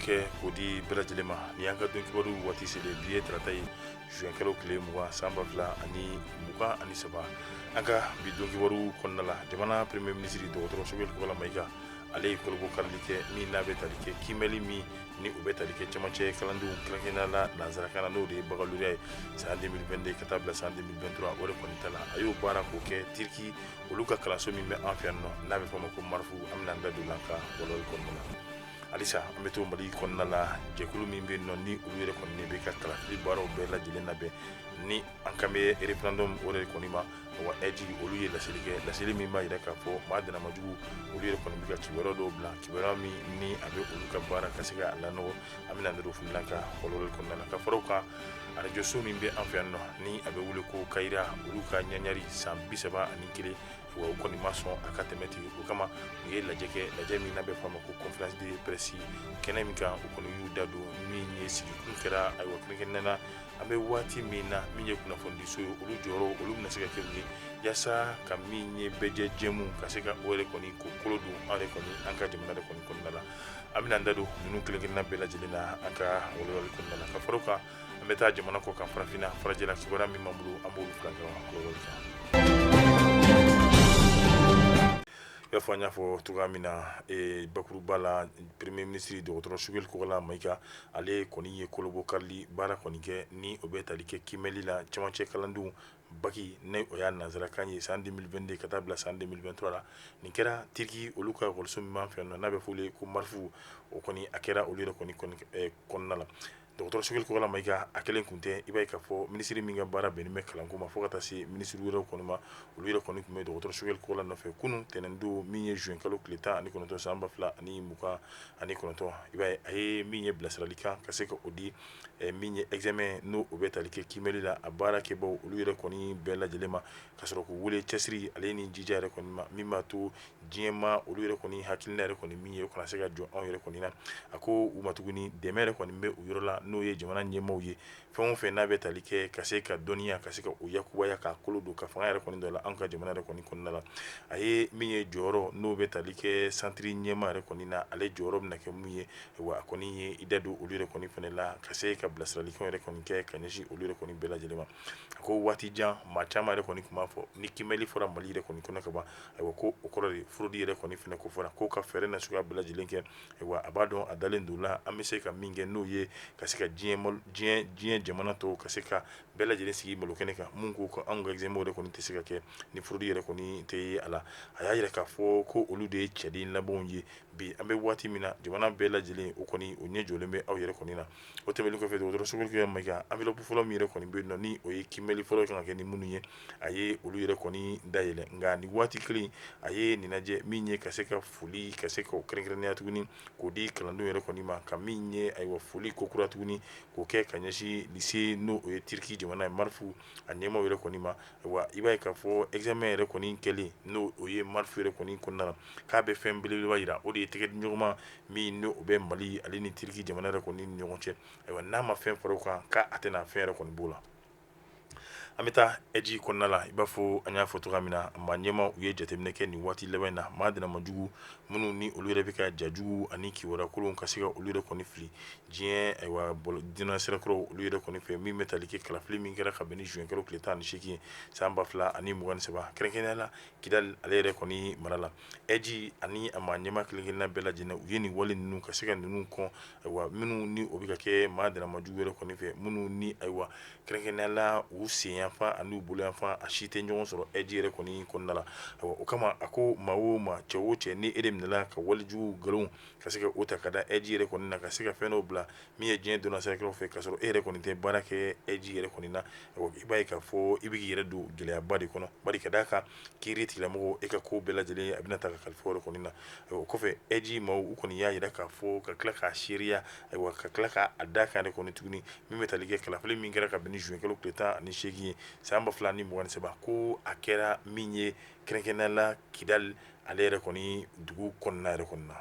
kɛ k'o di bɛɛ lajɛlen ma ni y'an ka don kibaru waati selen bi ye tarata ye zuwɛnkalo tile mugan san ba fila ani mugan ani saba an ka bi don kibaru kɔnɔna la jamana premier minisiri dɔgɔtɔrɔ Sogɛli Kokala Mayiga ale ye kolobo karili kɛ min n'a bɛ tali kɛ kiimɛli min ni o bɛ tali kɛ cɛmancɛ kalandenw kɛrɛnkɛrɛnnenya la nanzarakan na n'o de ye baccalauréat ye san 2022 ka taa bila san 2023 o de kɔni ta la a y'o baara k'o kɛ Turquie olu ka kalanso min bɛ an fɛ yan nɔ n'a bɛ fɔ a ma ko marifu an bɛna an da don o la an ka walawali kɔnɔna na halisa an bɛ to Mali kɔnɔna la jɛkulu min bɛ yen nɔ ni olu yɛrɛ kɔni bɛ ka kalafili baaraw bɛɛ lajɛlen labɛn ni an kan bɛ référendum o de kɔni ma AIGE olu ye laseli kɛ laseli min b'a jira k'a fɔ maa dannamajugu olu yɛrɛ kɔni bɛ ka kibaruya dɔw bila kibaruya min ni a bɛ olu ka baara ka se ka lanɔgɔ an bɛna an da don o fana la an ka walawali kɔnɔna na ka fara o kan arajoso min bɛ an fɛ yan nɔ ni a bɛ wele ko Kayira olu ka ɲagari san bi saba ani kelen wa u kɔni ma sɔn a ka tɛmɛ ten o kama u ye lajɛ kɛ lajɛ min n'a bɛ fɔ a ma ko conférence de presse kɛnɛ min kan u kɔni y'u da don min ye sigikun kɛra ayiwa kɛrɛnkɛrɛnnen na an bɛ waati min na min ye kunnafonidiso ye olu jɔyɔrɔ olu bɛna se ka kɛ mun ye yaasa ka min ye bɛɛ jɛmu ka se ka o yɛrɛ kɔni k'o kolo don an yɛrɛ kɔni an ka jamana de kɔni kɔnɔna la an bɛna an da don ninnu kelenkelen bɛɛ lajɛlen na an ka walawali kɔnɔna na ka fara o kan an bɛ taa jamana kɔ kan farafinna farajɛla kibaruya min b'an bolo an b'olu fila ɲɔgɔn walawali kan i b'a fɔ an y'a fɔ cogoya min na bakuruba la premier minisiri dɔgɔtɔrɔ Sogɛli Kokala Mayiga ale kɔni ye kolobo karili baara kɔni kɛ ni o bɛ tali kɛ kimɛli la cɛmancɛ kalandenw baki ni o y'a nanzarakan ye san 2022 ka taa bila san 2023 la nin kɛra Turquie olu ka ekɔliso min b'an fɛ yan nɔ n'a bɛ f'olu ye ko marifu o kɔni a kɛra olu yɛrɛ kɔni kɔnɔna la dɔgɔtɔrɔ Sogɛli Kokala Mayiga a kelen tun tɛ i b'a ye k'a fɔ minisiri min ka baara bɛnnen bɛ kalanko ma fo ka taa se minisiri wɛrɛw kɔni ma olu yɛrɛ kɔni tun bɛ dɔgɔtɔrɔ Sogɛli Kokala nɔfɛ kunun tɛnɛndon min ye juin kalo tile tan ani kɔnɔntɔn san ba fila ani mugan ani kɔnɔntɔn i b'a ye a ye min ye bilasiralikan ka se ka o di min ye examen n'o o bɛ tali kɛ kimɛli la a baara kɛbaw olu yɛrɛ kɔni bɛɛ lajɛlen ma ka sɔrɔ k'u wele cɛsiri ale ni jija yɛrɛ kɔni ma min b'a to diɲɛmaa olu yɛrɛ kɔni hakilina yɛrɛ kɔni min ye o kana se ka jɔ anw yɛrɛ kɔni na a ko u ma tuguni dɛmɛ yɛrɛ kɔni bɛ u yɔrɔ la n'o ye jamana ɲɛmaaw ye fɛn o fɛn n'a bɛ tali kɛ ka se ka dɔnniya ka se ka o yakubaya k'a kolo don ka fanga yɛrɛ kɔni dɔ la an ka jamana yɛrɛ kɔni kɔnɔna la a ye min ye jɔyɔrɔ n'o bɛ tali kɛ santiri ɲɛmaa yɛrɛ kɔni na ale jɔyɔrɔ bɛna kɛ mun ye wa a kɔni ye i da don olu yɛrɛ kɔni fana la ka se ka bilasiralikan yɛrɛ kɔni kɛ ka ɲɛsin olu yɛrɛ kɔni bɛɛ lajɛlen ma a ko waati jan maa caman yɛrɛ kɔni tun b'a fɔ ni kimɛli fɔra Mali yɛrɛ kɔni kɔnɔ ka ban ayiwa ko o kɔrɔ de fraude yɛrɛ kɔni fana ko fɔra ko ka fɛɛrɛ na suguya bɛɛ lajɛlen kɛ ayiwa a b'a dɔn a dalen don la an bɛ se ka min kɛ n'o ye ka se ka diɲɛ jamana tɔw ka se ka bɛɛ lajɛlen sigi malo kɛnɛ kan mun ko ko anw ka examen yɛrɛ kɔni tɛ se ka kɛ ni fraude yɛrɛ kɔni tɛ ye a la a y'a yira k'a fɔ ko olu de ye cɛden labanw ye bi an bɛ waati min na jamana bɛɛ lajɛlen o kɔni u ɲɛ jɔlen bɛ aw yɛrɛ kɔni na o tɛmɛnen kɔfɛ dɔgɔtɔrɔ sogɛli kokala mayiga enveloppe fɔlɔ min yɛrɛ kɔni bɛ yen nɔ ni o ye kiimɛli fɔlɔ kan ka kɛ ni minnu ye a ye olu yɛrɛ kɔni dayɛlɛ nka ni waati kelen a ye nin lajɛ min ye ka se ka foli ka se ka o kɛrɛnkɛrɛnnenya tuguni k'o di kalandenw yɛrɛ kɔni ma ka min ye ayiwa foli kokura tuguni k'o kɛ ka ɲɛsin lycée n'o o ye turki jamana ye marifu a ɲɛmaw yɛrɛ kɔni ma I b'a ye k'a fɔ examen yɛrɛ kɔni kɛlen n'o o ye marifu yɛrɛ kɔni kɔnɔna la k'a bɛ fɛn belebeleba yira o de ye tɛgɛdiɲɔgɔnma min n'o bɛ mali ale ni turki jamana yɛrɛ kɔni ni ɲɔgɔn cɛ ayiwa n'a ma fɛn fara o kan k'a tɛna fɛn yɛrɛ kɔni b'o la an bɛ taa eji kɔnɔna la i b'a fɔ an y'a fɔ cogoya min na maa ɲɛma u ye jateminɛ kɛ nin waati laban in na maa dannamajugu minnu ni olu yɛrɛ bɛ ka ja jugu ani kibaru kolon ka se ka olu yɛrɛ kɔni fili diɲɛ ayiwa bolo diinɛ sirakɔrɔ olu yɛrɛ kɔni fɛ min bɛ tali kɛ kalafili min kɛra ka bɛn ni zuwɛnkalo tile tan ni seegin san ba fila ani mugan ni saba kɛrɛnkɛrɛnnenya la kidali ale yɛrɛ kɔni mara la ɛji ani a maa ɲɛma kelen-kelenna bɛɛ lajɛlen u ye nin wale ninnu ka se ka ninnu kɔn ayiwa minnu ni o bɛ ka kɛ maa dannamajugu yɛrɛ kɔni fɛ minnu ni ayiwa kɛrɛnkɛrɛnnenya la u senyanfan ani u boloyanfan a si tɛ ɲɔgɔn sɔrɔ ɛji yɛrɛ kɔni kɔnɔna la ayiwa o kama a ko maa o maa cɛ o cɛ ni e de minɛna ka walejugu nkalon ka se ka o ta ka da eji yɛrɛ kɔni na ka se ka fɛn dɔw bila min ye diɲɛ donna sira fɛ ka sɔrɔ e yɛrɛ kɔni tɛ baara kɛ eji yɛrɛ kɔni na i b'a ye k'a fɔ i b'i yɛrɛ don gɛlɛyaba de kɔnɔ bari ka d'a kan kiiritigɛlamɔgɔw e ka ko bɛɛ lajɛlen a bɛna ta ka kalifa o yɛrɛ kɔni na o kɔfɛ eji maaw u kɔni y'a yira k'a fɔ ka tila k'a seereya ayiwa ka tila k'a da kan yɛrɛ kɔni tuguni min bɛ tali kɛ kalafili min kɛra ka bɛn ni zuwɛnkalo tile tan ani seegin ye san ba fila ni mugan ni saba ko a kɛra min ye kɛrɛnkɛrɛnnenya la kidali ale yɛrɛ kɔni dugu kɔnɔna yɛrɛ kɔni na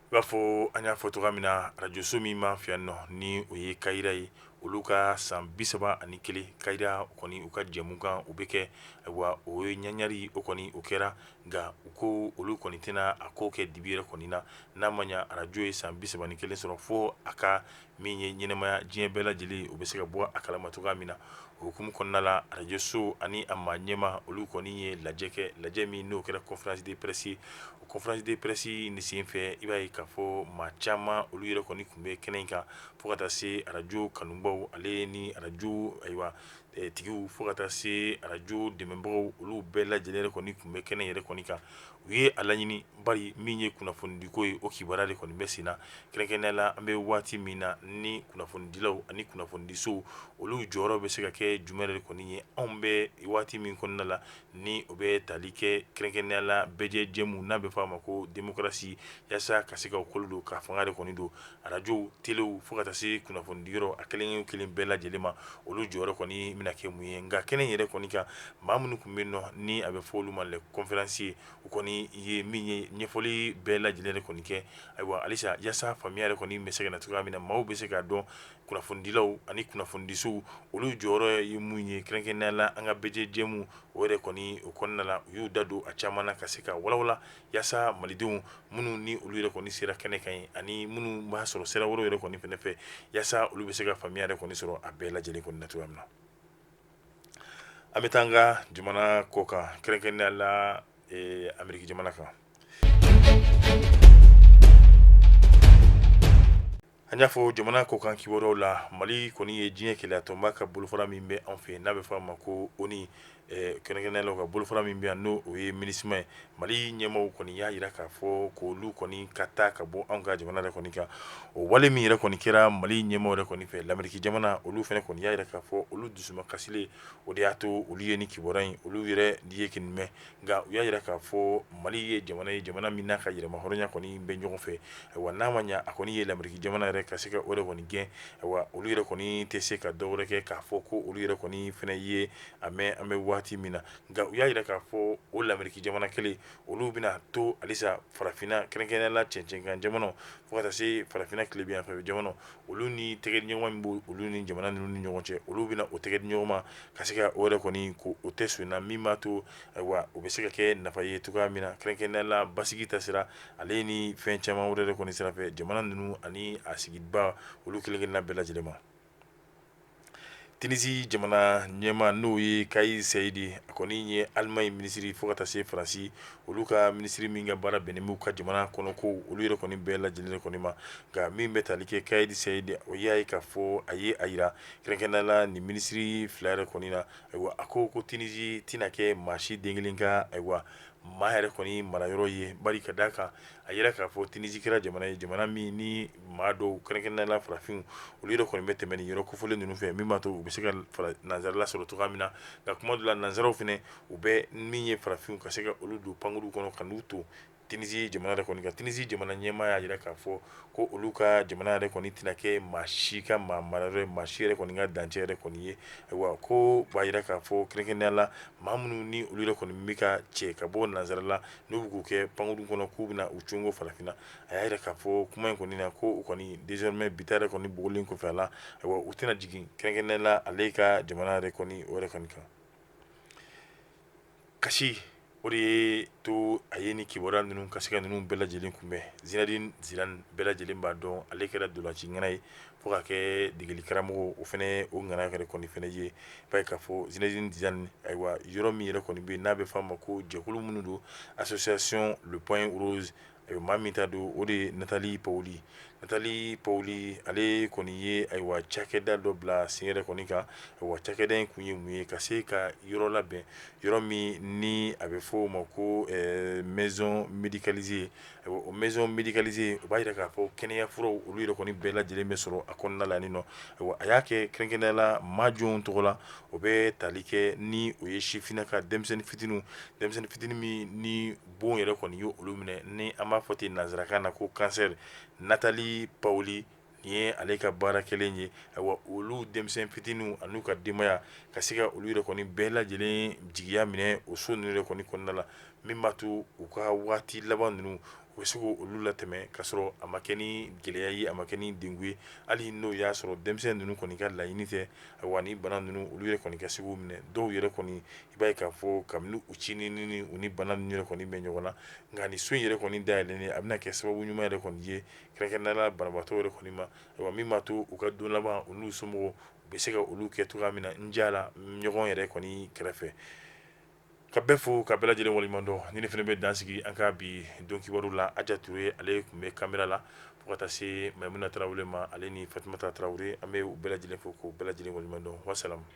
i b'a fɔ an y'a fɔ cogoya min na arajoso min b'an fɛ yan nɔ ni o ye kayira ye olu ka san bi saba ani kelen kayira kɔni u ka jɛmukan u bɛ kɛ ayiwa o ye ɲagari o kɔni o kɛra nka u ko olu kɔni tɛna a ko kɛ dibi yɛrɛ kɔni na n'a ma arajo ye san bi saba ni kelen sɔrɔ fo a ka min ye ɲɛnamaya diɲɛ bɛɛ lajɛlen u bɛ se ka bɔ a kalama cogoya min na o hukumu kɔnɔna la arajoso ani a maa ɲɛma olu kɔni ye lajɛ kɛ lajɛ min n'o kɛra conférence de presse ye o conférence de presse nin sen fɛ i b'a ye k'a fɔ maa caman olu yɛrɛ kɔni tun bɛ kɛnɛ in kan fo ka taa se arajo kanubaw ale ni arajo ayiwa tigiw fo ka taa se arajo dɛmɛbagaw olu bɛɛ lajɛlen yɛrɛ kɔni tun bɛ kɛnɛ yɛrɛ kɔni kan u ye a laɲini bari min ye kunnafonidiko ye o kibaruya de kɔni bɛ sen na kɛrɛnkɛrɛnnenya la an bɛ waati min na ni kunnafonidilaw ani kunnafonidisow olu jɔyɔrɔ bɛ se ka kɛ jumɛn yɛrɛ de kɔni ye anw bɛ waati min kɔnɔna la ni o bɛ tali kɛ kɛrɛnkɛrɛnnenya la bɛɛjɛ jɛmu n'a bɛ f'a ma ko démocratie yasa ka se ka o kolo don ka fanga de kɔni don arajow, telew fo ka taa se kunnafonidiyɔrɔ a kelen o kelen bɛɛ lajɛlen ma, olu jɔyɔrɔ kɔni bɛna kɛ mun ye nka kɛnɛ in yɛrɛ kɔni kan maa minnu tun bɛ yen nɔ ni a bɛ fɔ olu ma les conférenciers u kɔni ye min ye ɲɛfɔli bɛɛ lajɛlen de kɔni kɛ, ayiwa halisa yasa faamuya yɛrɛ kɔni bɛ se ka na cogoya min na maaw bɛ se k'a dɔn kunnafonidilaw ani kunnafonidisow olu jɔyɔrɔ ye mun ye kɛrɛnkɛrɛnnenya la an ka bɛɛjɛ jɛmu o yɛrɛ kɔni o kɔnɔna la u y'u da don a caman na ka se ka walawala yasa malidenw minnu ni olu yɛrɛ kɔni sera kɛnɛ kan yen ani minnu b'a sɔrɔ sira wɛrɛw yɛrɛ kɔni fɛnɛ fɛ yasa olu bɛ se ka faamuya yɛrɛ kɔni sɔrɔ a bɛɛ lajɛlen kɔni na cogoya min na an bɛ taa an ka jamana kɔ kan kɛrɛnkɛrɛnnenya la ee Ameriki jamana kan An y'a fɔ jamana kɔ kan kibaruyaw la mali kɔni ye diɲɛ kelenya tɔnba ka bolofara min bɛ anw fɛ n'a bɛ f'a ma ko ONU kɛrɛnkɛrɛnnenya la ka bolofara min bɛ yan n'o ye MINUSMA ye mali ɲɛmaaw kɔni y'a jira k'a fɔ ko olu kɔni ka taa ka bɔ anw ka jamana de kɔni kan o wale min yɛrɛ kɔni kɛra mali ɲɛmaaw yɛrɛ kɔni fɛ lamɛriki jamana olu fɛnɛ kɔni y'a jira k'a fɔ olu dusuma kasilen o de y'a to olu ye nin kibaruya in olu yɛrɛ ye kɔni mɛn nka u y'a jira k'a fɔ mali ye jamana ye jamana min n'a ka yɛrɛmahɔrɔnya kɔni bɛ ɲɔgɔn fɛ ayiwa n'a ma ɲɛ a kɔni ye lamɛriki jamana yɛrɛ ka se ka o de kɔni gɛn ayiwa olu yɛrɛ kɔni tɛ se ka dɔwɛrɛ kɛ k'a fɔ ko olu yɛrɛ kɔni fɛnɛ ye a mɛn an bɛ waati min na nka u y'a jira k'a fɔ o lamɛriki jamana kelen olu bɛna to halisa farafinna kɛrɛnkɛrɛnnenya la cɛncɛnkan jamanaw fo ka taa se farafinna tilebinyanfɛ jamana olu ni tɛgɛdiɲɔgɔnma min b' olu ni jamana ninnu ni ɲɔgɔn cɛ olu bɛna o tɛgɛdiɲɔgɔnma ka se ka o yɛrɛ kɔni ko o tɛ so in na min b'a to ayiwa o bɛ se ka kɛ nafa ye cogoya min na kɛrɛnkɛrɛnnenya la basigi ta sira ale ni fɛn caman wɛrɛ de kɔni sira fɛ jamana ninnu ani a sigibaa olu kelenkelenna bɛɛ lajɛlen ma tinisi jamana ɲɛmaa n'o ye Kais Saied a kɔni ye alimaɲi minisiri fo ka taa se faransi olu ka minisiri min ka baara bɛnnen b'u ka jamana kɔnɔ ko olu yɛrɛ kɔni bɛɛ lajɛlen yɛrɛ kɔni ma nka min bɛ tali kɛ Kais Saied o y'a ye k'a fɔ a ye a jira kɛrɛnkɛrɛnnenya la nin minisiri fila yɛrɛ kɔni na ayiwa a ko ko tinisi tɛna kɛ maa si den kelen ka ayiwa maa yɛrɛ kɔni marayɔrɔ ye bari ka d'a kan a jira k'a fɔ tinisi kɛra jamana ye jamana min ni maa dɔw kɛrɛnkɛrɛnnenya la farafinw olu yɛrɛ kɔni bɛ tɛmɛ nin yɔrɔ kofɔlen ninnu fɛ min b'a to u bɛ se ka nansarala sɔrɔ cogoya min na nka kuma dɔ la nansaraw fɛnɛ u bɛ min ye farafinw ka se ka olu don pankuru kɔnɔ ka n'u to tinisi jamana yɛrɛ kɔni kan tinisi jamana ɲɛmaa y'a jira k'a fɔ ko olu ka jamana yɛrɛ kɔni tɛna kɛ maa si ka maa marayɔrɔ ye, maa si yɛrɛ kɔni ka dancɛ yɛrɛ kɔni ye, ayiwa ko b'a jira k'a fɔ kɛrɛnkɛrɛnnenya la maa minnu ni olu yɛrɛ kɔni bɛ ka cɛ ka bɔ nansara la n'u bɛ k'u kɛ pankuru kɔnɔ k'u bɛna u cungo farafinna a y'a jira k'a fɔ kuma in kɔni na ko u kɔni désormais bi ta yɛrɛ kɔni bɔlen kɔfɛ a la, ayiwa u tɛna jigin kɛrɛnkɛrɛnnenya la ale ka jamana yɛrɛ kɔni o yɛrɛ kɔni kan kasi o de ye to a ye ni kibaruya ninnu ka se ka ninnu bɛɛ lajɛlen kunbɛn Zinedine Zidane bɛɛ lajɛlen b'a dɔn ale kɛra ntolanci ŋana ye fo ka kɛ degeli karamɔgɔ o fana o ŋana yɛrɛ kɔni fana ye b'a ye k'a fɔ Zinedine Zidane ayiwa yɔrɔ min yɛrɛ kɔni bɛ n'a bɛ f'a ma ko jɛkulu minnu don association le point rose Ayiwa maa min ta don o de ye Nathalie Paoli Nathalie Paoli ale kɔni ye ayiwa cakɛda dɔ bila sen yɛrɛ kɔni kan ayiwa cakɛda in kun ye mun ye ka se ka yɔrɔ labɛn yɔrɔ min ni a bɛ fɔ o ma ko maison médicalisée ayiwa o maison médicalisée o b'a jira k'a fɔ kɛnɛya furaw olu yɛrɛ kɔni bɛɛ lajɛlen bɛ sɔrɔ a kɔnɔna la nin nɔ ayiwa a y'a kɛ kɛrɛnkɛrɛnnenya la maa jɔnw tɔgɔ la o bɛ tali kɛ ni o ye sifininaka denmisɛnnin fitinin denmisɛnnin fitinin min ni bon yɛrɛ kɔni ye olu minɛ ni an b'a fɔ ten nansarakan na ko cancer Nathalie Paoli nin ye ale ka baara kɛlen ye ayiwa olu denmisɛn fitinin an'u ka denbaya ka se ka olu yɛrɛ kɔni bɛɛ lajɛlen jigiya minɛ o so ninnu yɛrɛ kɔni kɔnɔna la min b'a to u ka waati laban ninnu u bɛ se k'olu latɛmɛ k'a sɔrɔ a ma kɛ ni gɛlɛya ye a ma kɛ ni degun ye hali n'o y'a sɔrɔ denmisɛnnin ninnu kɔni ka laɲini tɛ wa ni bana ninnu olu yɛrɛ kɔni ka se k'u minɛ dɔw yɛrɛ kɔni i b'a ye k'a fɔ kabini u ncinin ni u ni bana ninnu yɛrɛ kɔni bɛ ɲɔgɔn na nka nin so in yɛrɛ kɔni dayɛlɛnnen a bɛna kɛ sababu ɲuman yɛrɛ kɔni ye kɛrɛnkɛrɛnnenya la banabaatɔ yɛrɛ kɔni ma ayiwa min b'a to u ka don laban u n'u somɔgɔw u bɛ se ka olu kɛ cogoya min na n jɛra ɲɔgɔn yɛrɛ kɔni kɛrɛfɛ ka bɛɛ fo ka bɛɛ lajɛlen waleɲuman dɔn ni ne fana bɛ dan sigi an ka bi don kibaru la Aja Ture ale tun bɛ kamera la fo ka taa se mayimuna tarawele ma ale ni fatumata tarawele an bɛ u bɛɛ lajɛlen fo k'u bɛɛ lajɛlen waleɲuman dɔn wa